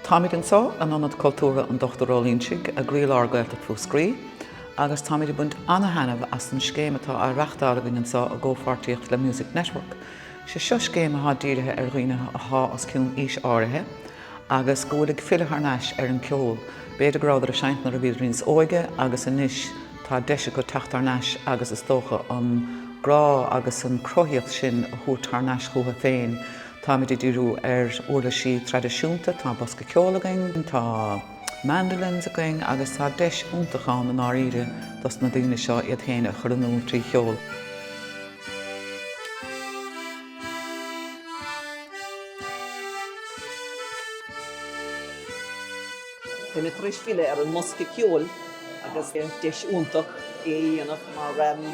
Táimid anseo in Ionad Cultúrtha an Dochtúra Uí Loingsigh i gcroílár Ghaeltacht Mhúscraí agus táimid ag baint ana-thaitneamh as an scéim atá á reáchtáil againn anseo i gcomhpháirtíocht le Music Network. Sé seo scéim atá dírithe ar dhaoine athá os cionn aois áirithe agus go bhfuil ag filleadh thar n-ais ar an gceol, b'fhéidir go rabhadar ag seinnt nuair a bhíodar níos óige agus anois, tá deis acu teacht thar n-ais agus is dócha an grá agus an cruthaíocht sin a thabhairt thar n-ais chucu féin. Táimid ag díriú ar uirlisí traidisiúnta, tá bosca ceoil againn, tá mandolins againn agus tá deis iontach ann i ndáiríre dos na daoine seo iad féin a chur in iúl trí cheol. Tá mé tar éis filleadh ar an mbosca ceoil agus deis iontach é a dhéanamh mar bím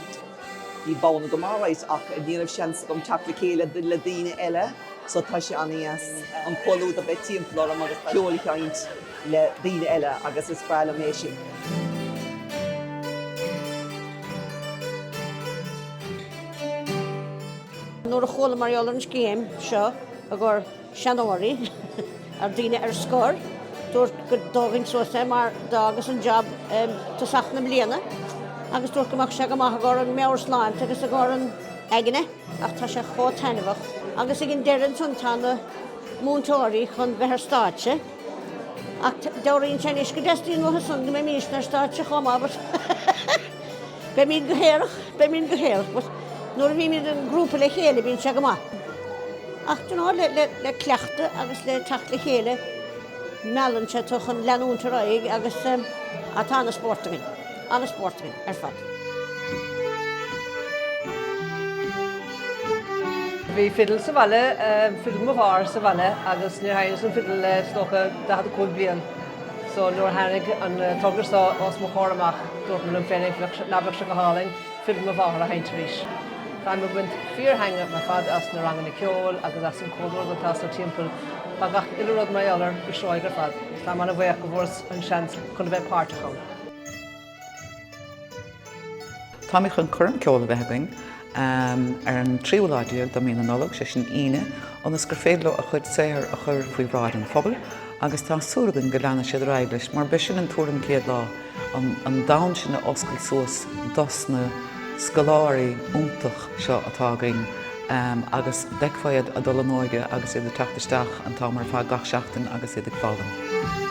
ag bualadh sa bhaile all right ach ní raibh seans agam teacht le chéile le daoine eile so tá sé an-deas an comhluadar bheith timpeall orm agus ceol a sheinnt le daoine eile agus is breá liom é sin. Nuair a chuala mar gheall ar an scéim seo i gcomhar. seanóirí, ar dhaoine ar scor, dúrt go dtógfainn suas é mar d'fhágas an jab i dtosach na bliana agus dúrt go mbeadh sé go maith i gcomhair an mheabhairshláinte agus i gcomhair an aigne ach tá sé chomh taitneamhach agus ag an deireadh ansan tá na múinteoirí chun bheith ar stáitse ach dealraíonn sé anois go dteastaíonn uathu san go mbeimístne ar stáitse chomh maith. Beimíd go hiarrach, beimíd go hiarrach, but nuair a bhímíd i ngrúpa le chéile bíonn sé go maith. Ach domhsa le le cleachtadh agus le teacht le chéile meallann sé tú chun leanúint ar aghaidh agus ah tá an-spórt againn, an-spórt againn ar fad. Bhí fidil sa bhaile, fidil m'athar sa bhaile agus níor sheinneas an fidil le, is dócha, 45 bliain. So nuair a tháinig an togra so os mo chomhair amach, dúirt mé liom féin an bheadh sé, ná beadh sé go hálainn fidil m'athar a sheinnt arís. Táim ag baint fíorthaitnimh ar fad as na ranganna ceoil agus as an comhluadar atá sa timpeall. Tá gach uile rud mar gheall air go seoigh ar fad. Táim an-bhuíoch go bhfuaireas an seans chun a bheith páirteach ann. Táimid chun coirm ceoil a bheith againn ar an tríú lá déag de mhí na Nollag, sé sin an Aoine, ionas gur féidir leo a chuid saothar a chur faoi bhráid an phobail agus tá súil againn go leanfaidh siad ar aghaidh leis mar beidh sin an tarna céim le an domhan sin a oscailt suas dos na scoláirí iontach seo atá againn. agus d'fheicfeá iad a' dul in óige agus iad a' teacht isteach an t-am ar fad gach seachtain agus iad ag foghlaim.